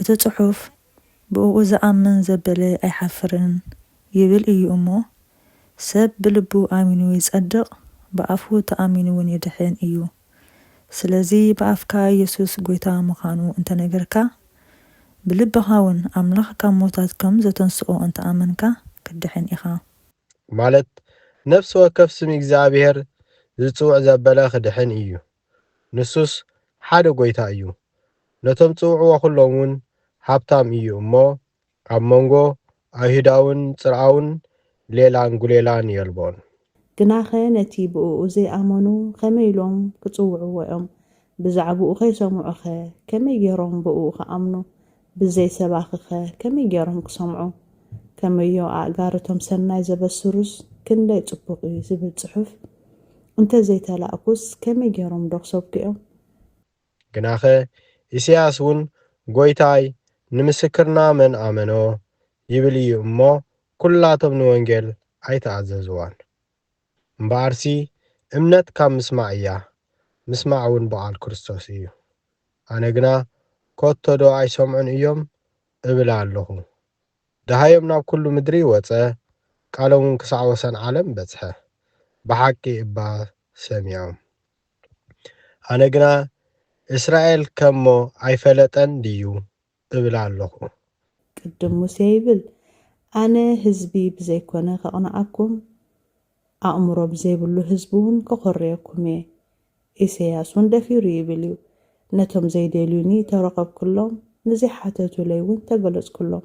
እቲ ጽሑፍ ብእኡ ዝኣምን ዘበለ ኣይሓፍርን ይብል እዩ እሞ፣ ሰብ ብልቡ ኣሚኑ ይጸድቕ፣ ብኣፉ ተኣሚኑውን ይድሕን እዩ። ስለዚ ብኣፍካ ኢየሱስ ጐይታ ምዃኑ እንተ ነገርካ፣ ብልብኻውን ኣምላኽ ካብ ምዉታት ከም ዘተንስኦ እንተ ኣመንካ፣ ክትድሕን ኢኻ። ማለት ነፍሲ ወከፍ ስም እግዚኣብሔር ዝጽውዕ ዘበለ ክድሕን እዩ። ንሱስ ሓደ ጐይታ እዩ፣ ነቶም ጽውዕዎ ዅሎምውን ሃብታም እዩ እሞ፣ ኣብ መንጎ ኣይሁዳውን ጽርኣውን ሌላን ጕሌላን የልቦን። ግናኸ ነቲ ብእኡ ዘይኣመኑ ኸመይ ኢሎም ኪጽውዕዎ እዮም? ብዛዕባኡ ኸይሰምዑኸ ከመይ ገይሮም ብእኡ ኺኣምኑ? ብዘይ ሰባኺኸ ከመይ ገይሮም ክሰምዑ? ከመዮ ኣእጋር እቶም ሰናይ ዘበስሩስ ክንደይ ጽቡቕ እዩ ዝብል ጽሑፍ እንተ ዘይተላእኩስ ከመይ ገይሮምዶ ክሰብኩ እዮም? ግናኸ ኢሳይያስ እውን ጐይታይ ንምስክርና መን ኣመኖ? ይብል እዩ እሞ ኵላቶም ንወንጌል ኣይተኣዘዝዋን። እምበኣርሲ እምነት ካብ ምስማዕ እያ፣ ምስማዕውን ብቓል ክርስቶስ እዩ። ኣነ ግና ከቶዶ ኣይሰምዑን እዮም? እብል ኣሎኹ። ደሃዮም ናብ ኵሉ ምድሪ ወጸ፣ ቃሎምውን ክሳዕ ወሰን ዓለም በጽሐ። ብሓቂ እባ ሰሚዖም። ኣነ ግና እስራኤል ከሞ ኣይፈለጠን ድዩ? እብል ኣሎኹ። ቅድም ሙሴ ይብል፣ ኣነ ህዝቢ ብዘይኮነ ከቕንኣኩም፣ ኣእምሮ ብዘይብሉ ህዝቢውን ከኾርየኩም እየ። ኢሰያስውን ደፊሩ ይብል እዩ፣ ነቶም ዘይደልዩኒ ተረኸብኩሎም፣ ንዘይሓተቱለይውን ተገለጽኩሎም።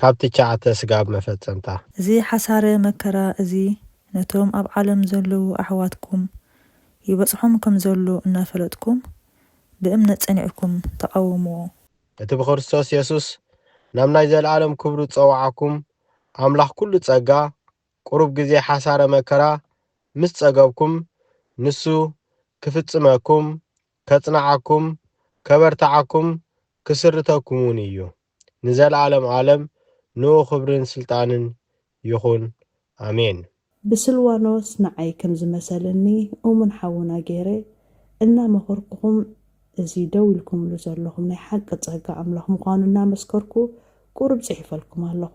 ካብ ትቻዓተ ስጋብ መፈጸምታ። እዚ ሓሳረ መከራ እዚ ነቶም ኣብ ዓለም ዘለዉ ኣሕዋትኩም ይበጽሖም ከም ዘሎ እናፈለጥኩም ብእምነት ጸኒዕኩም ተቓወምዎ። እቲ ብክርስቶስ የሱስ ናብ ናይ ዘለኣለም ክብሩ ዝጸውዓኩም ኣምላኽ ኩሉ ጸጋ ቁሩብ ግዜ ሓሳረ መከራ ምስ ጸገብኩም ንሱ ክፍጽመኩም ከጽንዓኩም ከበርትዓኩም ክስርተኩምውን እዩ። ንዘልኣለም ኣለም ንኡ ክብርን ስልጣንን ይኩን ኣሜን። ብስልዋኖስ ንዓይ ከም ዝመሰለኒ እሙን ሓውና ገይረ እናመኸርኩኹም እዚ ደው ኢልኩምሉ ዘለኹም ናይ ሓቂ ጸጋ ኣምላኽ ምዃኑ እናመስከርኩ ቁሩብ ጽሒፈልኩም ኣለኹ።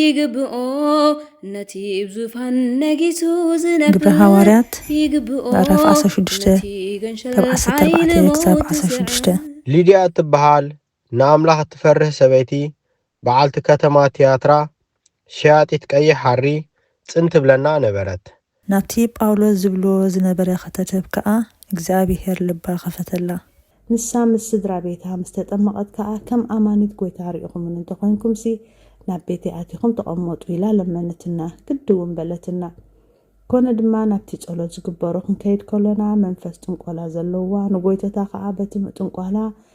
ይግብኦ ነቲ ብ ዙፋን ነጊሱ ግብረ ዝነብር ሃዋርያት ይግብኦ ምዕራፍ ዓሰርተ ሽዱሽተ ነቲ ገንሸል ካብ ዓሰርተ ሓይሊ ኣርባዕተ ክሳብ ሞት ዓሰርተ ሽዱሽተ ዝስዕር ሊድያ እትበሃል ንኣምላኽ እትፈርህ ሰበይቲ በዓልቲ ከተማ ትያትራ፣ ሸያጢት ቀይሕ ሃሪ፣ ጽን ትብለና ነበረት። ናብቲ ጳውሎስ ዝብሎ ዝነበረ ኽተትብ ከኣ እግዚኣብሄር ልባ ኸፈተላ። ንሳ ምስ ስድራ ቤታ ምስ ተጠመቐት ከኣ፣ ከም ኣማኒት ጐይታ ርኢኹምኒ እንተ ዄንኩምሲ፣ ናብ ቤተይ ኣቲኹም ተቐመጡ ኢላ ለመነትና። ግድ'ውን በለትና። ኰነ ድማ፣ ናብቲ ጸሎት ዝግበሮ ኽንከይድ ከሎና፣ መንፈስ ጥንቈላ ዘለዋ፣ ንጐይቶታ ኸኣ በቲ ምጥንቋላ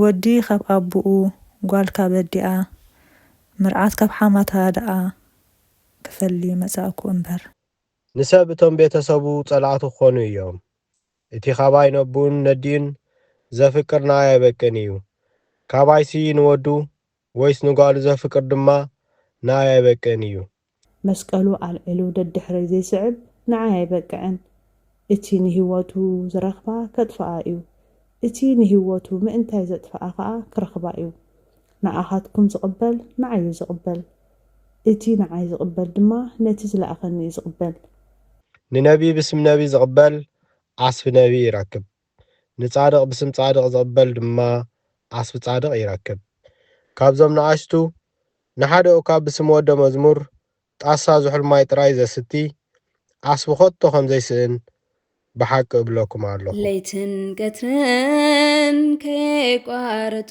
ወዲ ካብ ኣቡኡ ጓል ካብ ኣዲኣ ምርዓት ካብ ሓማታ ደኣ ክፈሊ መጻእኩ እምበር። ንሰብ እቶም ቤተ ሰቡ ጸላእቱ ክኾኑ እዮም። እቲ ኻባይ ነቡኡን ነዲኡን ዘፍቅር ንኣይ ኣይበቅን እዩ። ካባይሲ ንወዱ ወይስ ንጓሉ ዘፍቅር ድማ ንኣይ ኣይበቅን እዩ። መስቀሉ ኣልዒሉ ደድሕረይ ዘይስዕብ ንዓይ ኣይበቅዕን። እቲ ንህይወቱ ዝረኽባ ከጥፍኣ'ዩ፣ እቲ ንህይወቱ ምእንታይ ዘጥፍኣ ኸኣ ክረኽባ'ዩ። ንኣኻትኩም ዝቕበል ንዓይ'ዩ ዝቕበል፣ እቲ ንዓይ ዝቕበል ድማ ነቲ ዝለኣኸኒ'ዩ ዝቕበል። ንነብዪ ብስም ነብዪ ዝቕበል ዓስቢ ነብዪ ይረክብ፣ ንጻድቕ ብስም ጻድቕ ዚቕበል ድማ ዓስቢ ጻድቕ ይረክብ። ካብዞም ንኣሽቱ፣ ንሓደ እኳ ብስም ወደ መዝሙር ጣሳ ዝሑል ማይ ጥራይ ዘስቲ፣ ዓስቢ ኸቶ ኸም ዘይስእን ብሓቂ እብለኩም ኣሎኹ። ለይትን ቀትርን ከየቋረጹ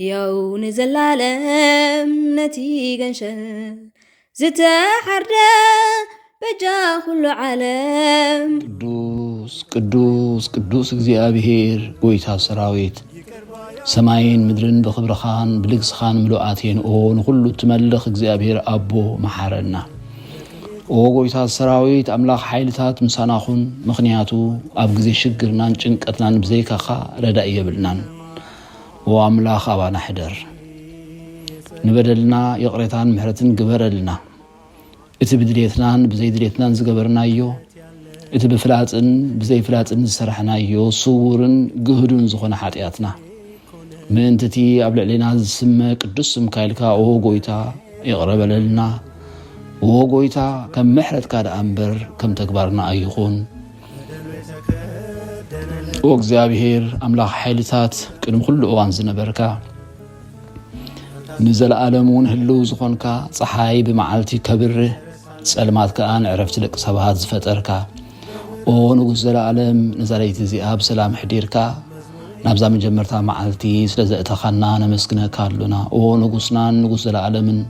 ህያው ንዘላለም ነቲ ገንሸል ዝተሓርደ በጃ ኩሉ ዓለም ቅዱስ ቅዱስ ቅዱስ እግዚኣብሔር ጎይታ ሰራዊት ሰማይን ምድርን ብኽብርኻን ብልግስኻን ምሉኣት እየን ኦ ንኹሉ እትመልኽ እግዚኣብሔር ኣቦ መሓረና ኦ ጎይታ ሰራዊት ኣምላኽ ሓይልታት ምሳና ኹን ምኽንያቱ ኣብ ግዜ ሽግርናን ጭንቀትናን ብዘይካኻ ረዳኢ የብልናን ኦ ኣምላኽ ኣባና ሕደር ንበደልና ይቕሬታን ምሕረትን ግበረልና እቲ ብድሌትናን ብዘይድሌትናን ዝገበርናዮ እቲ ብፍላጥን ብዘይፍላጥን ዝሰራሕናዮ ስውርን ግህዱን ዝኾነ ሓጢኣትና ምእንቲ እቲ ኣብ ልዕሌና ዝስመ ቅዱስ ስምካ ኢልካ ኦ ጎይታ ይቕረ በለልና ኦ ጎይታ ከም ምሕረትካ ደኣ እምበር ከም ተግባርና ኣይኹን ኦ እግዚኣብሔር ኣምላኽ ሓይልታት ቅድሚ ኩሉ እዋን ዝነበርካ ንዘለኣለም እውን ህልው ዝኾንካ ፀሓይ ብመዓልቲ ከብርህ ጸልማት ከዓ ንዕረፍቲ ደቂ ሰባት ዝፈጠርካ ኦ ንጉስ ዘለኣለም ነዛ ለይቲ እዚኣ ብሰላም ሕዲርካ ናብዛ መጀመርታ መዓልቲ ስለ ዘእተኻና ነመስግነካ ኣሎና ኦ ንጉስናን ንጉስ ዘለኣለምን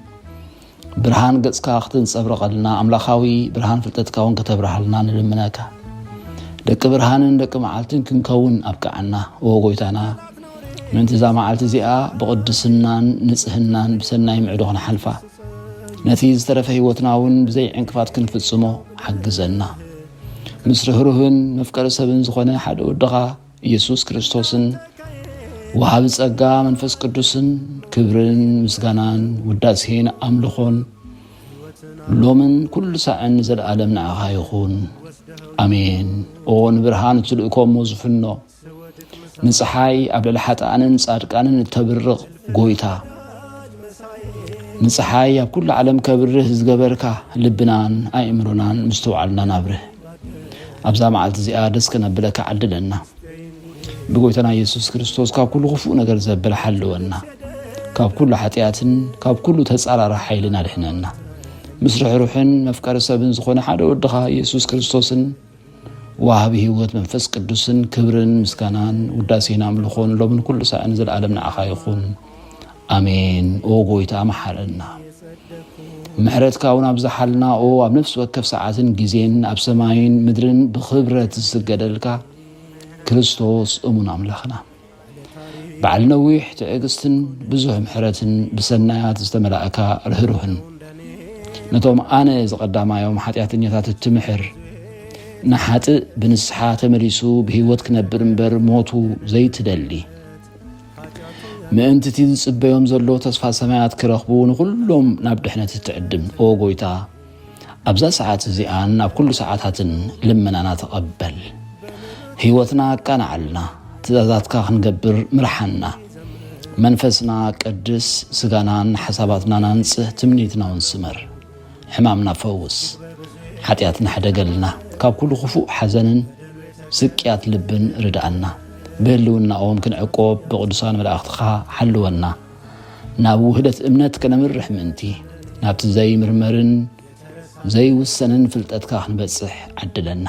ብርሃን ገጽካ ክትንጸብረቐልና ኣምላኻዊ ብርሃን ፍልጠትካ እውን ከተብርሃልና ንልምነካ ደቂ ብርሃንን ደቂ መዓልትን ክንከውን ኣብቅዓና ኦ ጎይታና ምእንቲ እዛ መዓልቲ እዚኣ ብቕድስናን ንጽህናን ብሰናይ ምዕዶ ክንሓልፋ ነቲ ዝተረፈ ህይወትና እውን ብዘይ ዕንቅፋት ክንፍጽሞ ሓግዘና ምስ ርህሩህን መፍቀሪ ሰብን ዝኾነ ሓደ ወድኻ ኢየሱስ ክርስቶስን ወሃቢ ጸጋ መንፈስ ቅዱስን ክብርን ምስጋናን ውዳሴን ኣምልኾን ሎምን ኩሉ ሳዕን ዘለኣለም ንዓኻ ይኹን ኣሜን። ኦ ንብርሃን እትልእኮ እሞ ዝፍኖ ንፀሓይ ኣብ ልዕሊ ሓጥኣንን ጻድቃንን እተብርቕ ጎይታ ንፀሓይ ኣብ ኩሉ ዓለም ከብርህ ዝገበርካ ልብናን ኣእምሮናን ምስተውዓልናን ኣብርህ ኣብዛ መዓልቲ እዚኣ ደስ ከነብለካ ዓድለና ብጎይታና ኢየሱስ ክርስቶስ ካብ ኩሉ ክፉእ ነገር ዘብል ሓልወና ካብ ኩሉ ሓጢኣትን ካብ ኩሉ ተጻራሪ ሓይልን ኣድሕነና ምስ ርሕሩሕን መፍቀሪ ሰብን ዝኾነ ሓደ ወድኻ ኢየሱስ ክርስቶስን ዋሃቢ ህይወት መንፈስ ቅዱስን ክብርን ምስጋናን ውዳሴን ኣምልኾን ሎምን ኩሉ ሳዕን ዘለኣለም ንዓኻ ይኹን ኣሜን ኦ ጎይታ መሓረና ምሕረትካ እውን ኣብዝሓልና ኦ ኣብ ነፍሲ ወከፍ ሰዓትን ግዜን ኣብ ሰማይን ምድርን ብክብረት ዝስገደልካ ክርስቶስ እሙን ኣምላኽና በዓል ነዊሕ ትዕግስትን ብዙሕ ምሕረትን ብሰናያት ዝተመላእካ ርህሩህን ነቶም ኣነ ዝቐዳማዮም ሓጢኣተኛታት እትምሕር ንሓጥእ ብንስሓ ተመሊሱ ብህይወት ክነብር እምበር ሞቱ ዘይትደሊ ምእንቲ እቲ ዝጽበዮም ዘሎ ተስፋ ሰማያት ክረኽቡ ንዅሎም ናብ ድሕነት እትዕድም ኦ ጐይታ፣ ኣብዛ ሰዓት እዚኣን ኣብ ኵሉ ሰዓታትን ልመናና ተቐበል። ህይወትና ኣቃንዓልና፣ ትእዛዛትካ ክንገብር ምርሓና። መንፈስና ቀድስ፣ ስጋናን ሓሳባትናን ኣንጽህ፣ ትምኒትናውን ስመር። ሕማምና ፈውስ፣ ሓጢኣትና ሕደገልና፣ ካብ ኩሉ ክፉእ ሓዘንን ስቅያት ልብን ርድኣና፣ ብህልውናኦም ክንዕቆብ ብቕዱሳን መላእኽትኻ ሓልወና፣ ናብ ውህደት እምነት ከነምርሕ ምእንቲ፣ ናብቲ ዘይምርመርን ዘይውሰንን ፍልጠትካ ክንበጽሕ ዓድለና።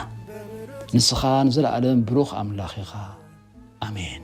ንስኻ ንዘለኣለም ብሩኽ ኣምላኽ ኢኻ። ኣሜን።